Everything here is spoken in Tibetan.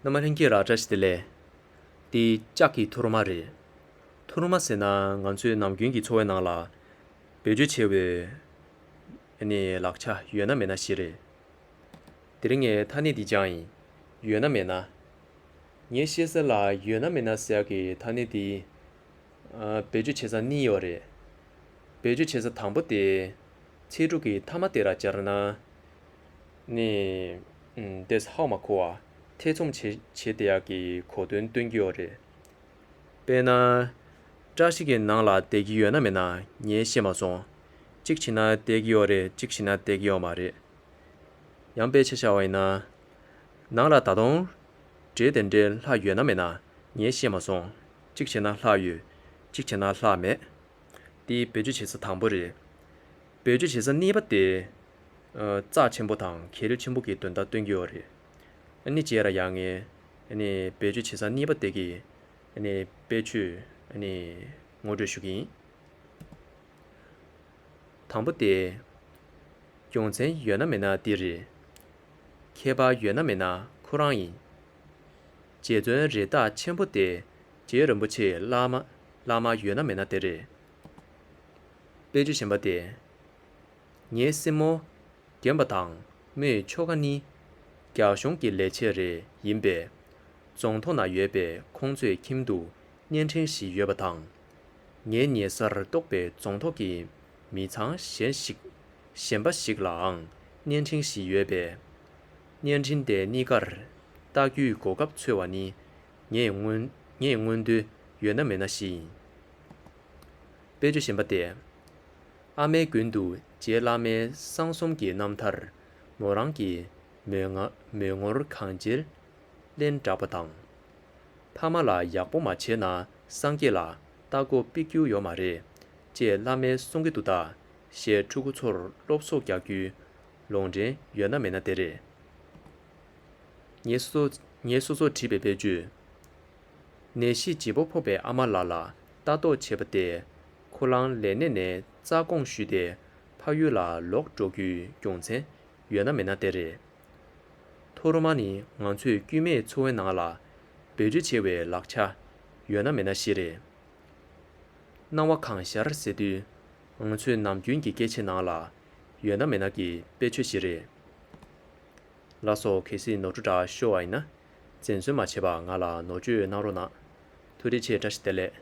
ནུ་མ་ལྷན་སྐྱེས་ར་བཀྲ་ཤིས་དེ་ལས། འདི་ལྕགས་ཀྱི་ཐུར་མ་རེད། ཐུར་མ་ཟེར་ན་ང་ཚོའི་ནམ་རྒྱུན་གྱི་འཚོ་བའི་ནང་ལ། བེད་སྤྱོད་བྱེད་འོའི་ལག་ཆ་ཡོད་ན་མེད་ན་ཞེས་རེད། དེ་རིང་ངས་ཐ་སྙད་འདི་སྦྱང་ཡིན། ཡོད་ན་མེད་ན། ངས་བཤད་ས་ལ་ཡོད་ན་མེད་ན་ཟེར་གྱི་ཐ་སྙད་འདི། བེད་སྤྱོད་བྱེད་ས་གཉིས་ཡོད་རེད། བེད་སྤྱོད་བྱེད་ས་དང་པོ་དེ། ཚེ་དྲུག་གི་མཐའ་མ་དེ་ར་སྦྱར་ན། ནས། འདས་ཧཱུྃ་མ་ཁུ་བ་ཐེ་ཚོམ་བྱེད། བྱེད་དེ་ཡག་གི་གོ་དོན་སྟོན་གྱི་ཡོད་རེད། དཔེར་ན། བཀྲ་ཤིས་ཀྱི་ནང་ལ་བསྡད་ཀྱི་ཡོད་ན་མེད་ན་ངས་ཤེས་མ་སོང། གཅིག་བྱིན་ན་བསྡད་ཀྱི་ཡོད་རེད་གཅིག་བྱིན་ན་བསྡད་ཀྱི་ཡོད་མ་རེད། ཡང་དཔེ་ཆ་བྱ་བ་ཡིན་ན། ནང་ལ་ད་དུང། འདྲེ་དེ་འདྲའི་ལྷ་ཡོད་ན་མེད་ན་ངས་ཤེས་མ་སོང། གཅིག་བྱེད་ན་ལྷ་ཡོད། གཅིག་བྱེད་ན་ལྷ་མེད། འདི་བེད་སྤྱོད་བྱེད་ས་དང་པོ་རེད། བེད་སྤྱོད་བྱེད་ས་གཉིས་པ་དེ། རྩ་ཆེན་པོ་དང་གལ་ཆེན་པོ་གི་དོན་དག་སྟོན་གྱི་ཡོད་རེད། ནི་རྗེས་ར་ཡག་ངས་ནི་བེད་སྤྱོད་བྱེད་ས་གཉིས་པ་དེ་གི་ནི་དཔེ་ཆུས་ནི་ངོ་སྤྲོད་ཞུ་གི་ཡིན། དང་པོ་དེ། རྒྱུ་མཚན་ཡོད་ན་མེད་ན་འདི་རེད། ཁྱད་པར་ཡོད་ན་མེད་ན་ཁོ་རང་ཡིན། རྗེ་བཙུན་རེད་རྟགས་ཆེན་པོ་དེ་རྗེ་རིན་པོ་ཆེ་བླ་མ་ཡོད་ན་མེད་ན་དེ་རེད། དཔེ་ཆུ་གཞན་པ་དེ། ངའི་སྲིང་མོ། རྒན་པ་དང་མོའི་ཆོ་ག་ནི། རྒྱ་གཞུང་གི་ལས་བྱེད་རེ་ཡིན་པས། རྫོང་ཐོག་ན་ཡོད་པའི་ཁོང་ཚོའི་ཁྱིམ་དུ་བརྙན་འཕྲིན་ཞིག་ཡོད་པ་དང། ངའི་ཉེ་སར་གཏོགས་པའི་རྫོང་ཐོག་གི་མི་ཚང་གཞན་ཞིག་གཞན་པ་ཞིག་ལའང་བརྙན་འཕྲིན་ཞིག་ཡོད་པས། བརྙན་འཕྲིན་དེ་གཉིས་ཀར་བལྟ་རྒྱུའི་གོ་སྐབས་འཚོལ་བ་ནི་ངས་སྔོན་ངས་སྔོན་དུས་ཡོད་ན་མེད་ན་ཞིག་ཡིན། དཔེ་བརྗོད་གཞན་པ་སྟེ། ཨ་མའི་མགུལ་དུ་རྗེ་བླ་མའི་གསང་གསུམ་གྱི་རྣམ་ཐར། མོ་རང་གི་མོས་ངོར་གང་བྱེད་གླེན་བསྒྲགས་པ་དང། ཕ་མ་ལ་ཡག་པོ་མ་བྱས་ན་སངས་རྒྱས་ལ་ལྟ་སྒོ་སྤེལ་རྒྱུ་ཡོད་མ་རེད་ཅེས་བླ་མའི་གསུང་གི་འདུག་ད་ཞལ་ཕྲུ་གུ་ཚོར་སློབ་གསོ་རྒྱག་རྒྱུའི་ལོང་འདྲེན་ཡོད་ན་མེད་ན་དེ་རེད། ངས་སོ་སོར་བྲིས་པའི་དཔེར་བརྗོད། ནད་གཞི་ལྗིད་པོ་ཕོག་པའི་ཨ་མ་ལ་ལ་ལྟ་རྟོག་བྱེད་པ་སྟེ། ཁུ་རླངས་ལས་གནས་ནས་རྩ་དགོངས་ཞུས་ཏེ་ཕ་ཡུལ་ལ་ལོག་འགྲོ་རྒྱུའི་རྒྱུ་མཚན་ཡོད་ན་མེད་ན་དེ་རེད། ཐོ་རུ་མ་ནི་ང་ཚོས་དཀྱུས་མའི་འཚོ་བའི་ནང་ལ་འབོད་སྒྲིག་བྱེད་བའི་ལག་ཆ་ཡོད་ན་མེད་ན་བཞི་རེད། སྣང་བ་གང་ཤར་ཟེར་དུས་ང་ཚོས་ནམ་རྒྱུན་གྱི་སྐད་ཆའི་ནང་ལ་ཡོད་ན་མེད་ན་གྱི་དཔེ་ཆོས་བཞི་རེད། ལ་སོགས་གལ་སྲིད་ནོར་འཁྲུལ་འདྲ་ཤོར་བ་ཡིན་ན་འཛེམ་ཟོན་མ་བྱེད་པར་ང་ལ་ནོར་བཅོས་གནང་རོགས་གནང། ཐུགས་རེ་ཆེ་བཀྲ་ཤིས་བདེ་ལེགས།